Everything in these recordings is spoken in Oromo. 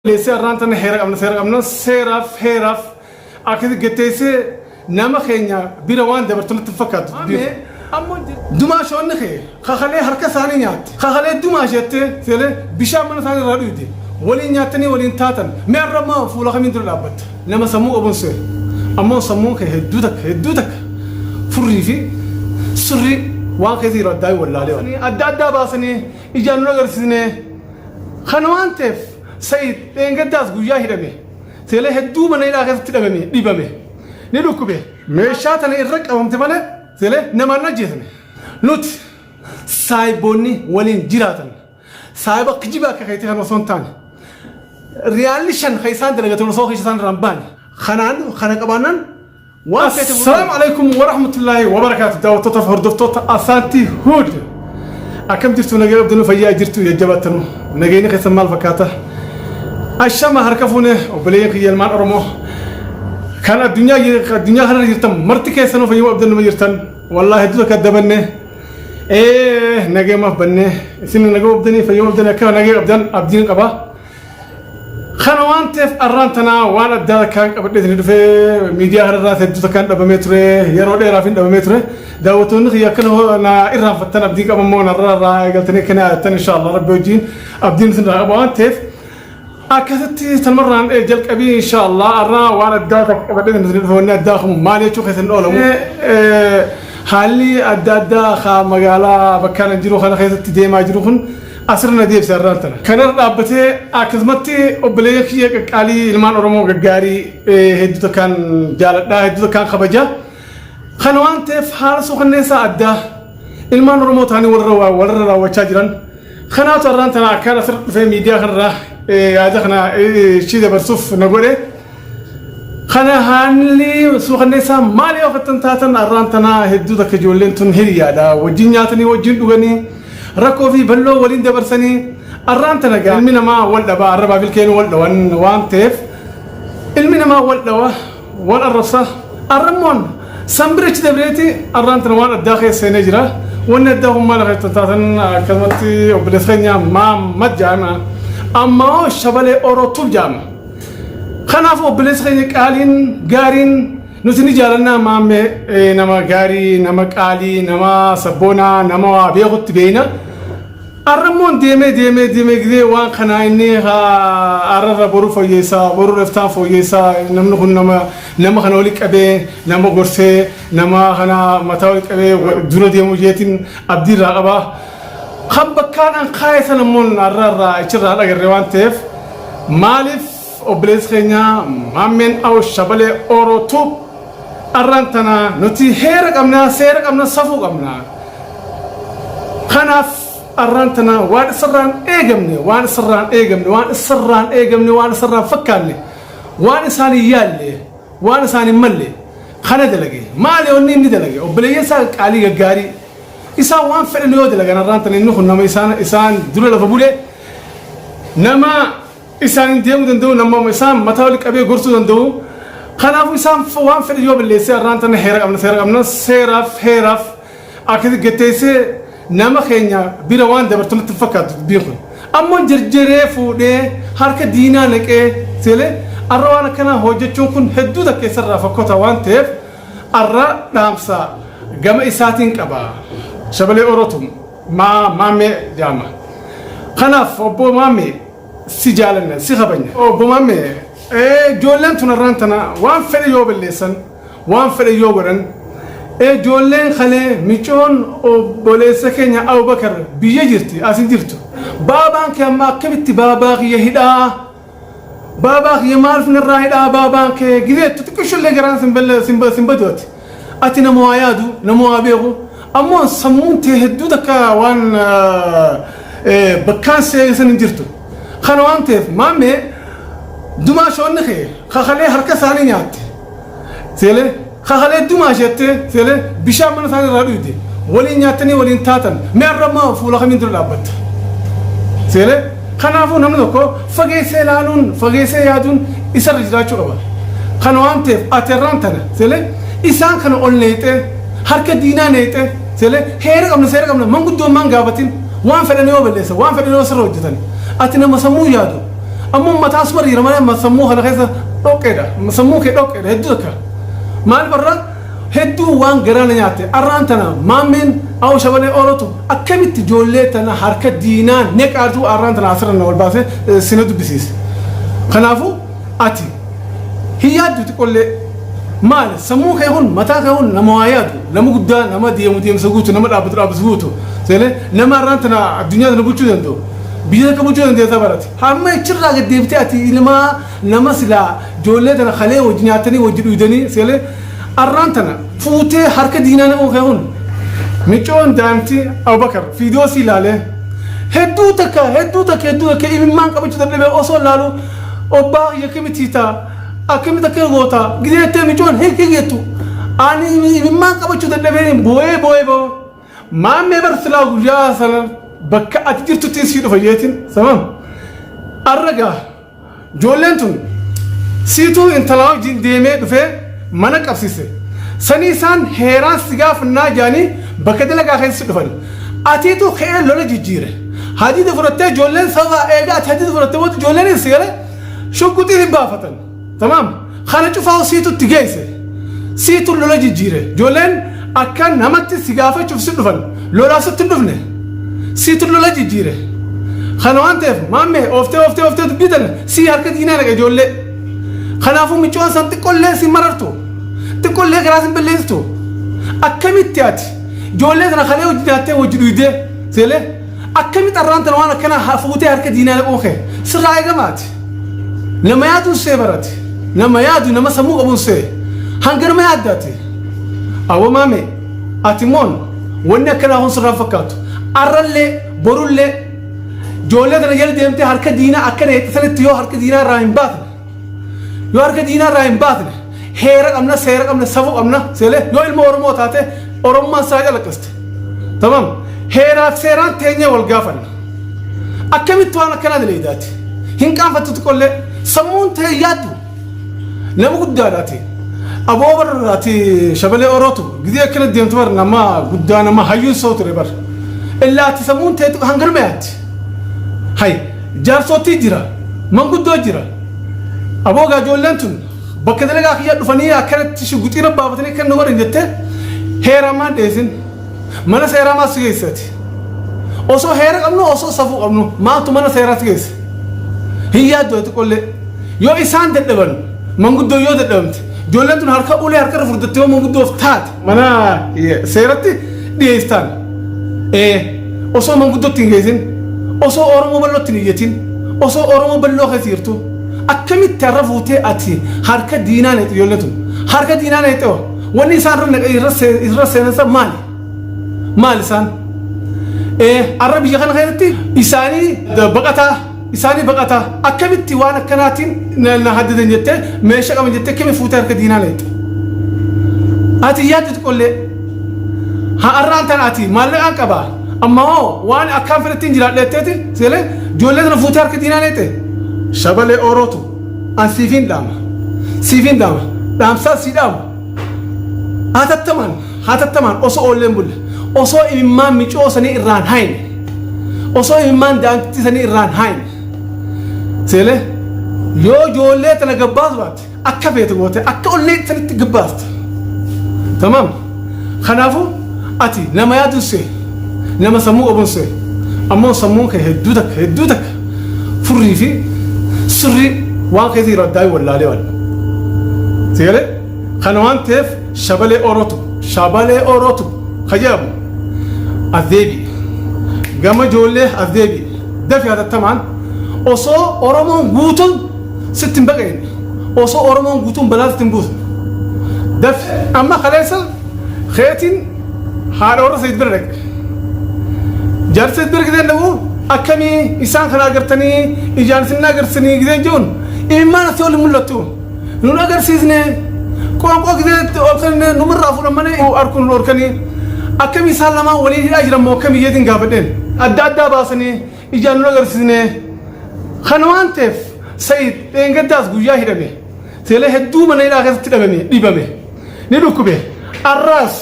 Leessee har'aan tana heera qabna seera qabna seeraaf heeraaf akka getteessee nama keenya bira waan dabartu natti fakkaatu. Dumaa shoonni kee kakalee harka isaanii nyaatte kakalee dumaa isheettee seelee bishaan mana isaanii irraa dhuyde waliin nyaattanii waliin taatan mee har'a maa fuula kamiin dura dhaabbatta nama sammuu qabuun seera ammoo sammuun kee hedduu takka hedduu takka furrii fi surrii waan keessa jiru addaa hin wallaalee waan. Adda addaa baasanii ijaan nu agarsiisnee Kana waan ta'eef Sa'iid dheengaddaas guyyaa hidhame seelee hedduu mana hidhaa keessatti dhabame dhibame ni dhukkube. Meeshaa tana irra qabamte malee seelee namaan ajjeesame. Nuti saahiboonni waliin jiraatan saahiba kijiba akka keetii kan osoo hin taane riyaalli shan kan isaan dalagatan osoo keessa isaan irraa hin baane. Kanaan kana qabaannaan Waan feete muruu. Salaam alaikum wa rahmatullahi wa barakaatu daawwattootaaf hordoftoota Asaantii Huud. Akkam jirtu nagaa abdanuu fayyaa jirtu jajjabaattanuu. Nageenyi keessan maal fakkaata? Ashama harka fuune obboleeyyan kiyya ilmaan Oromoo. Kan addunyaa addunyaa kanarra jirtan marti keessanuu fayyuma abdannuma jirtan. Wallaahi hedduu akka dabanne. Ee nageemaaf banne. Isin nagaa abdanii fayyuma abdanii akka nagaa abdan abdiin qaba. Kana waan ta'eef arraan tanaa waan addaa takkaan qabadhee isin dhufe miidiyaa kanarraa hedduu takkaan dhabamee ture yeroo dheeraaf hin dhabamee ture daawwattoonni kiyya akkana hoo na irraanfattan abdiin qaba immoo narraa irraa eegaltanii akka na yaadattan inshaallah rabbi wajjin abdiin isin irraa qaba waan ta'eef akkasitti tamarraan ee jalqabii inshaallah arraa waan addaa takka qabadhee isin dhufe wanni addaa kun maal jechuu keessan oolamu haalli adda addaa haa magaalaa bakkaan jiru kana keessatti deemaa jiru kun Asirra na deebisa har'aan tana. Kan irra dhaabbatee akkasumatti obboleeyyan kiyya qaqqaalii ilmaan Oromoo gaggaarii eh, hedduu takkaan jaaladhaa hedduu takkaan kabaja. Kana waan ta'eef haala suukanneessaa addaa ilmaan Oromoo ta'anii walirra waa- walirra raawwachaa jiran. Kanaatu har'aan tana akkaan asirra dhufee miidiyaa kanarraa eh, yaada kana eh, ishii dabarsuuf na godhe. Kana haalli suukanneessaa maal yoo akkan taatan arraan tanaa hedduu takka ijoolleen tun hiriyaadha. Wajjin nyaatanii wajjin dhuganii rakkoo fi balloo waliin dabarsanii arraan tana gaa ilmi namaa wal dhabaa arrabaa bilkeen wal dhawan waan ta'eef ilmi namaa wal dhawa wal arrabsa arrammoon sanbirichi dabreeti arraan tana waan addaa keessa seenee jira. Wanni addaa kun maal akka taatan akkasumatti obboleessa keenya Maamad jaama. Ammaa shabalee Orootuuf jaama. Kanaaf obboleessa keenya qaaliin gaariin nuti ni jaalanna maamme eh, nama gaarii nama qaalii nama sabboonaa nama waa beekutti beeyna. Arrammoon deemee deemee deemee gidee waan kanaa inni haa arrarra boru fooyyeessaa boru reftaan fooyyeessaa namni kun nama nama kana wali qabee nama gorsee nama kana mataa wali qabee wa- dura deemuu jeetiin abdiirraa qaba. Kan bakkaan an kaa'e san ammoo narra irraa ichirraa hin agarre waan ta'eef maaliif obboleessi keenya maammeen aw shabalee ooroo tuub arraan tana nuti heera qabna seera qabna safuu qabna kanaaf arraan tana waan isarraan eegamne waan isarraan eegamne waan isarraan eegamne waan isarraan fakkaanne waan isaan hin yaalle waan isaan hin malle kana dalage maali onni inni dalage obboleeyyan isaa qaalii gaggaarii Isaan waan fedhan yoo dalagan har'aan tan inni kun nama isaan isaan dura lafa bule nama isaan hin deemuu danda'u nama isaan mataa walitti qabee gorsuu danda'u kanaafuu isaan f- waan fedhan yoo balleessee har'aan tan heera qabna seera qabna seeraaf heeraaf akkasi gatteessee nama keenya bira waan dabartu natti hin fakkaatu dubbiin kun ammoo jarjaree fuudhee harka diinaa naqee seelee har'a waan akkanaa hojjechuun kun hedduu takkeessarraa fakkota waan ta'eef Arraa dhaamsa gama isaatiin qaba. Shabalee Orotu maa maammee jaama. Kanaaf obbo maammee si jaalanna si kabanya. Obbo maammee ijoolleen tun arraan tana waan fedhe yoo balleessan waan fedhe yoo godhan ijoolleen kalee micoon obboleessa keenya Abubakar biyya jirti as hin jirtu. Baabaan kee amma akkamitti baabaa kiyya hidhaa Baabaa kiyya maalf narraa hidha abaabaan kee gizee itti xiqqishollee garaan sin balla sin ba- sin badu ati ati nama waa yaadu nama waa beeku ammoo sammuun tee hedduu takka waan eh, eh, bakkaan si eegisan hin jirtu kana waan ta'eef maammee dumaa shoonni kee kakalee harka isaanii nyaatte Seelee kakalee dumaa isheettee seelee bishaan mana isaanii irraa dhuyde waliin nyaattanii waliin taatan mee arra maa fuula kamiin dura dhaabbatta. Seelee kanaafuu namni tokko fageessee laaluun fageessee yaaduun isarra jiraachuu qaba. Kana waan ta'eef ati arraan tana seelee isaan kana ol neexee harka diinaa neexee seelee heera qabna seera qabna manguddoo maan gaafatin waan fedhan yoo balleessa waan fedhan yoo sirra hojjetan ati nama sammuu yaadu Amma uummataa asuma dhiira malee amma sammuu kana keessa dhoqqeedha. Sammuu kee dhoqqeedha hedduu akka. Maal barra hedduu waan garaa na nyaatte arraan tana maammeen awo shabalee oolatu akkamitti ijoollee tana harka diinaa neqaatu arraan tana asirra na ol baasee eh, sina dubbisiise. Kanaafuu ati hin yaaddu xiqqollee maali sammuu kee kun mataa kee kun nama waa yaadu nama guddaa nama deemu deemsa guutu nama dhaabbatu dhaabbatu guutu seene nama arraan tana addunyaa tana bulchuu danda'u Biyya akka bulchuu dandeessa barate. Amma ichirraa gad deebitee ati ilmaa nama silaa ijoollee tana kalee wajji nyaattanii wajji dhuydanii sigalee arraan tana fuutee harka diinaa naquu kee kun micoon daantii Abubakar fiidiyoo sii laalee hedduu takka hedduu takka hedduu takka imimmaan qabachuu dadhabee osoo laalu obbaa kiyya akkamitti taa akkamitti akka goota gideettee micoon hin higettu ani imimmaan qabachuu dadhabee booyee booyee boo Maammee bar silaa guyyaa sana bakka ati jirtuttiin sii dhufa jeetiin samam. Arragaa joolleen tun siituu intalaa wajjin deemee dhufee mana qabsiise. Sanii isaan heeraan si gaafannaa jaanii bakka dalagaa keessa dhufan. Atiitu ka'ee lola jijjiire. Hadiida fudhattee joolleen sababa eegaa ati hadiida fudhattee booda joolleenis si galee shugguxii hin baafatan. Tamaam kana cufaa siitutti geesse siitu lola jijjiire ijoolleen akka namatti si gaafachuuf si dhufan lolaaf sitti dhufne siitu lola jijjiire kana waan ta'eef maammee ooftee ooftee ooftee dubbii tana si harka diinaa dhaqa ijoollee kanaafuu micoon san xiqqollee si marartu xiqqollee garaa sin balleessitu akkamitti ati ijoollee sana kalee hojii nyaattee hojii dhuydee seelee Akkamitti arraan tana waan akkanaa haa fuutee harka diinaa naquun kee sirraa eegamaati. Nama yaaduun see barate. Nama yaadu nama sammuu qabuun see. Hanga nama yaaddaati. Awwa maame ati moon wanni akkanaa kun sirraa fakkaatu. Arrallee borullee ijoollee tana jala deemtee harka diinaa akkana jettee sanitti yoo harka diinaa irraa hin baatan. Yoo harka diinaa irraa hin baafne heera qabna seera qabna safuu qabna seelee yoo ilma Oromoo taate Oromummaan isaa calaqiste. Tamam heeraa fi seeraan teenyee wal gaafanna. Akkamitti waan akkanaa daleeydaati? Hin qaanfattu xiqqollee sammuun ta'e yaaddu nama guddaadhaati. Aboo barraati shabalee orootu gidee akkana deemtu bar nama guddaa nama hayyuun soo ture bar. Illaatti sammuun ta'e hangirma yaatti. Hayya. Jaarsootii jira. Manguddoo jira. Aboo gaa ijoolleen tun bakka dalagaa kiyyaa dhufanii akkanatti shugguxiina baafatanii akka na godhan jettee heeraan maan dheesin. Mana seeraa maal si geessati? Osoo heera qabnu osoo safuu qabnu maaltu mana seeraa si geessa? Hin yaaddu ati qollee. Yoo isaan dadhaban manguddoo yoo dadhabamte ijoolleen tun harka ulee harka irra furdattee yoo manguddoof taate mana seeratti dhiyeessaan osoo manguddootti hin geessin osoo oromoo bal'ootti hin iyyatin osoo oromoo bal'oo keessa jirtu akkamitti har'a fuutee ati harka diinaa neexu ijoollee tun harka diinaa neexu wanni isaan irra naqee irra seenansa maali maali isaan har'a biyya kana keessatti isaanii baqataa isaanii baqataa akkamitti waan akkanaatiin na- na haddadan jettee meeshaa qaban jettee kimi fuutee harka diinaa leexxe. Ati hin yaaddu xiqqollee har'aan tan ati maallaqaan qaba amma hoo waan akkaan fedhetti hin jiraadheetteeti seelee ijoollee sana fuutee harka diinaa leexxe. Shabalee oorootu an siifiin dhaama siifiin dhaama dhaamsaa sii dhaamu hatattamaan Hatattamaan osoo oolleen bulle, osoo imimmaan micoo sanii irraan haayne, osoo imimmaan daa'imtittii sanii irraan haayne, seelee yoo joollee tana gabbaasu baatte akka feete goote akka ollee sanitti gabbaasta. Tamaam. Kanaafuu ati nama yaadun see, nama sammuu qabun see, ammoo sammuun kee hedduu takka hedduu takka furrii fi sirrii waan keessa jiru addaa wallaalee waan. Seelee kana waan ta'eef Shabalee Orotu Shabalee Orotu ka jedhamu as deebi'i. Gama ijoollee as deebi'i. Dafi hatattamaan osoo Oromoon guutuun sitti hin baqayin. Osoo Oromoon guutuun balaa sitti hin buusu. Dafi amma kaleessa keetiin haadha warra Sayyid bira dhaqe. Jaarsa Sayyid bira gideen dhaqu akkamii isaan kana agartanii ijaan isin agarsiisanii gideen jiruun imimmaan asii ol hin mul'attu. Nun agarsiisne qoonqoo gideetti ol kenne numirraa fudhan malee harkuun nu dhorkanii akkamii isaan lamaan waliin hidhaa jiran moo akkamii jeetiin gaafadheen adda addaa baasanii ijaan nun agarsiisne kana waan ta'eef Sa'iid dheengaddaas guyyaa hidhame seelee hedduu mana hidhaa keessatti dhabame dhibame ni dhukkube arraas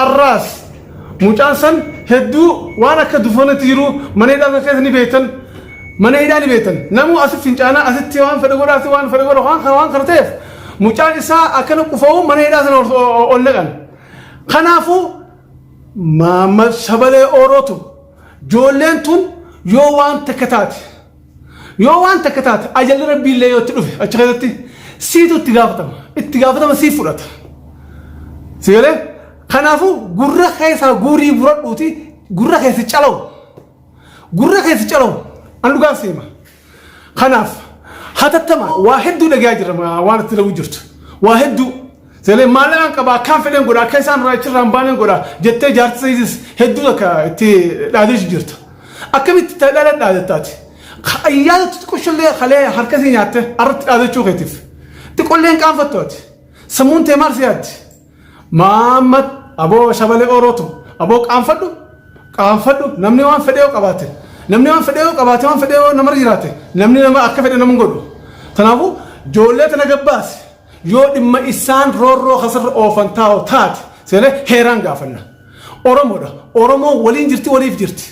arraas Mucaan san hedduu waan akka dufoonatti jiru mana hidhaa sana keessa ni beektan. Mana hidhaa ni beektan. Namuu asi fincaanaa asitti waan fedhe godha asitti waan fedhe godha waan kana waan kana ta'eef mucaan isaa akkana qufa'u mana hidhaa sana ol- ol ol naqan. Kanaafuu Maammal Shabalee Oorootu joolleen tun yoo waan takka taate Yoo waan takka taate ajalli rabbii illee yoo itti dhufe achi keessatti siitu itti gaafatama. Itti gaafatama siif fudhata. Si galee? Kanaafuu gurra keessaa guurii buradhuuti gurra keessi calawu. Gurra keessi calawu. An dhugaan seema. Kanaaf hatattamaan waa hedduu dhagayaa jirra waan itti lagu jirtu. Waa hedduu. Seeneen maallaqaan qaba akkaan fedheen godha akka isaan irraa achirraa hin baaneen godha jettee jaartii sayitis hedduu takka itti dhaadeessu jirta. Akkamitti itti dhaala dhaadattaati? Ayyaana xixiqqoshallee halee harka sii nyaatte irratti dhaadachuu keetiif. Xiqqolleen qaanfattu ati. Sammuun tee maal si yaaddi? Maammad aboo shabalee oorootu aboo qaanfadhu qaanfadhu namni waan fedhee yoo qabaate namni waan fedhee yoo qabaate waan fedhee yoo namarra jiraate namni nama akka fedhe nama hin godhu. Kanaafuu ijoollee tana gabbaasi. Yoo dhimma issaan roorroo kasarra oofan taa'u taate seene heeraan gaafanna. Oromoodha. Oromoon waliin jirti waliif jirti.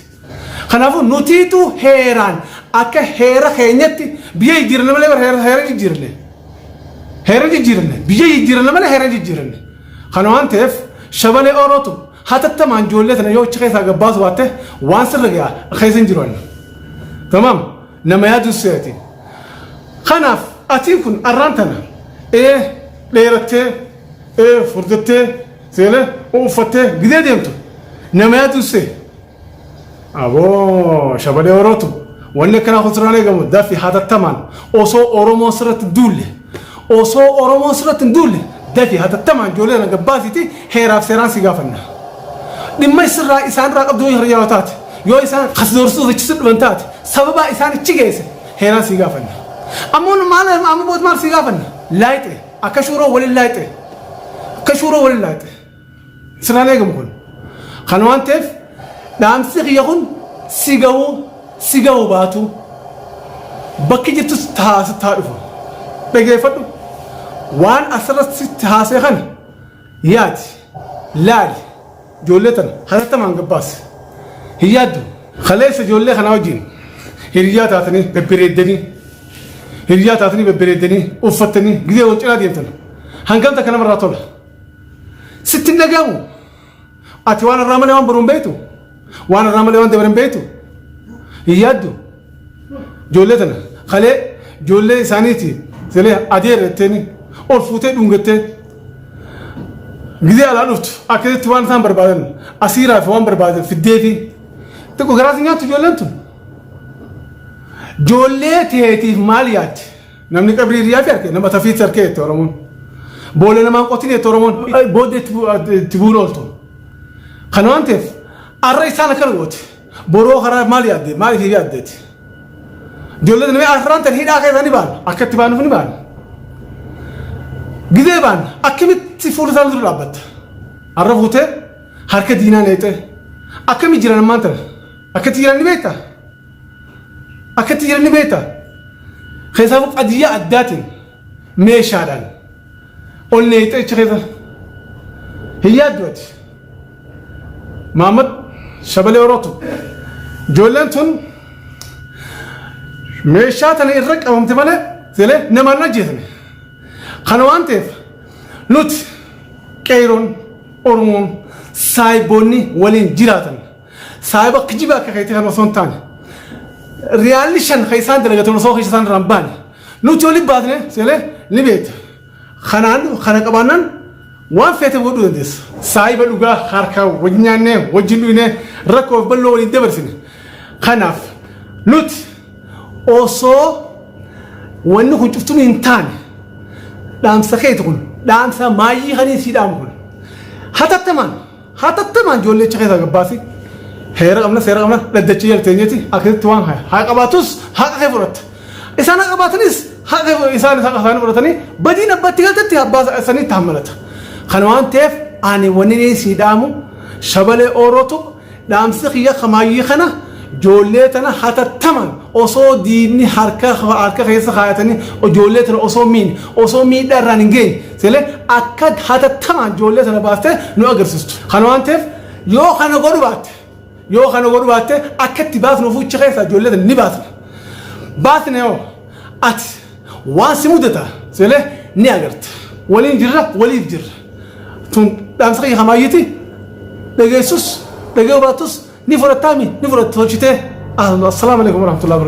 Kanaafuu nutiitu heeraan akka heera keenyatti biyya jijjiiranna malee bara heera heera jijjiiranne. Heera jijjiiranne. Biyya jijjiiranna malee heera jijjiiranne. Kana waan ta'eef shabalee orootu hatattamaan ijoollee tana yoo achi keessaa gabbaasu baatte waan sirra ga'a keessa hin jiru anna. Tamaam. Nama yaadussee ati. Kanaaf atiin kun arraan tana ee dheerattee ee furdattee seelee uffattee gidee deemtu nama yaadussee. Aboo shabalee orootu wanni akkanaa kun sirraan eegamu daffi hatattamaan osoo Oromoo sirratti duulle. Osoo Oromoon sirratti hin duulle dafii hatattamaan ijoollee tana gad baasiitii heeraaf seeraan si gaafanna. Dhimma sirraa isaan irraa qabdu yoo hiriyyaa taate yoo isaan kas doorsisuuf ichi si dhufan taate sababaa isaan ichi geesse heeraan si gaafanna. Ammoo nu maal amma booda maal si gaafanna? Laayxe akka shuuroo waliin laayxe akka shuuroo waliin laayxe. Sirraan eegamu kun. Kan waan ta'eef dhaamsi kiyya kun si ga'u si ga'u baatu bakki jirtu sitti haa sitti haa dhufu. Dhageeffadhu waan asirratti sitti haasee kana yaadi laali ijoollee tana hatattamaan gabbaasi. Hin yaaddu kaleessa ijoollee kanaa wajjin hiriyaa taatanii bebbereeddanii hiriyaa taatanii bebbereeddanii uffattanii gidee wal cinaa deemtan hangam takka namarraa tola. Sitti hin dhagahamu. Ati waan irraa malee waan boru hin beektu. Waan irraa malee waan dabre hin beektu. Hin yaaddu. Ijoollee tana kalee ijoollee isaaniiti selee adeera jetteeni ol fuutee dhungattee gizee alaa dhuftu akkasitti waan isaan barbaadan asiiraa fi waan barbaadan fiddeefi xiqqoo garaas nyaattu ijoolleen tun. Ijoollee teetiif maal yaaddi? Namni qabrii riyaati arke nama tafiitti arke jette Oromoon. Boolla namaan qotin jette Oromoon booda itti bu'uun ooltu. Kan waan ta'eef arra isaan akkana gooti. Boroo karaa maal yaadde maal ishee yaaddeeti. Ijoollee namni arraan tan hidhaa keessaa ni baana akka itti baanuuf ni baana. Gidee baana akkamitti fuula isaanii dura dhaabbatta. Arra fuutee harka diinaa neexee akkamii jiran ammaan tana akkatti jiran ni beektaa. Akka itti jiran ni beektaa? Keessaafuu qadiyyaa addaatiin meeshaadhaan ol neexee achi keessa hin yaaddu ati. Maammad shabalee orootu. Ijoolleen tun meeshaa tana irra qabamte malee selee namaan hin ajjeesne. Kana waan ta'eef nuti qeeroon Oromoon saayiboonni waliin jiraatan Saahiba kijiba akka keetii kan osoo hin taane riyaalli shan kan isaan dalagatan osoo keessa isaan irraa hin baane nuti oli baasne seelee ni beekta. Kanaan kana qabaannan waan feete godhuu dandeessa. Saahiba dhugaa harkaa wajjin nyaannee wajjin dhugnee rakkoo fi bal'oo waliin dabarsine. Kanaaf nuti osoo wanni kun cuftuun hin taane dhaamsa keeti kun dhaamsa maayyii kan hin siidhaamu kun hatattamaan Hatattamaan ijoollee achi keessaa gabbaasi. Heera qabna seera qabna dhaddacha jala teenyeti akkasitti waan haya. Haa qabaatus haqa kee fudhatta. Isaan haa qabaatanis haqa kee fudhata. Isaan haqa isaanii fudhatanii badiin abbatti galtetti abbaa isaaniitti hammalata. Kana waan ta'eef ani wanni ni sii dhaamu shabalee oorootu dhaamsi kiyya kamaayyii kana ijoollee tana hatattamaan osoo diinni harka harka keessa kaayatanii ijoollee tana osoo miin osoo miidhaa irraan hin geenye Sile akka hatattamaan ijoollee sana baastee nu agarsiistu. Kana waan ta'eef yoo kana godhu baatte yoo kana godhu baatte akka itti baasnu fuucha keessaa ijoollee sana ni baasna. Baasne hoo ati waan si mudata sile ni agarta. Waliin jirra waliif jirra. Tun dhaamsa kiyya kamaayyiti dhageessus dhagee baattus ni fudhattaami ni fudhatta tolchitee. Assalaamu alaikum warahmatullahi wabarakatuh.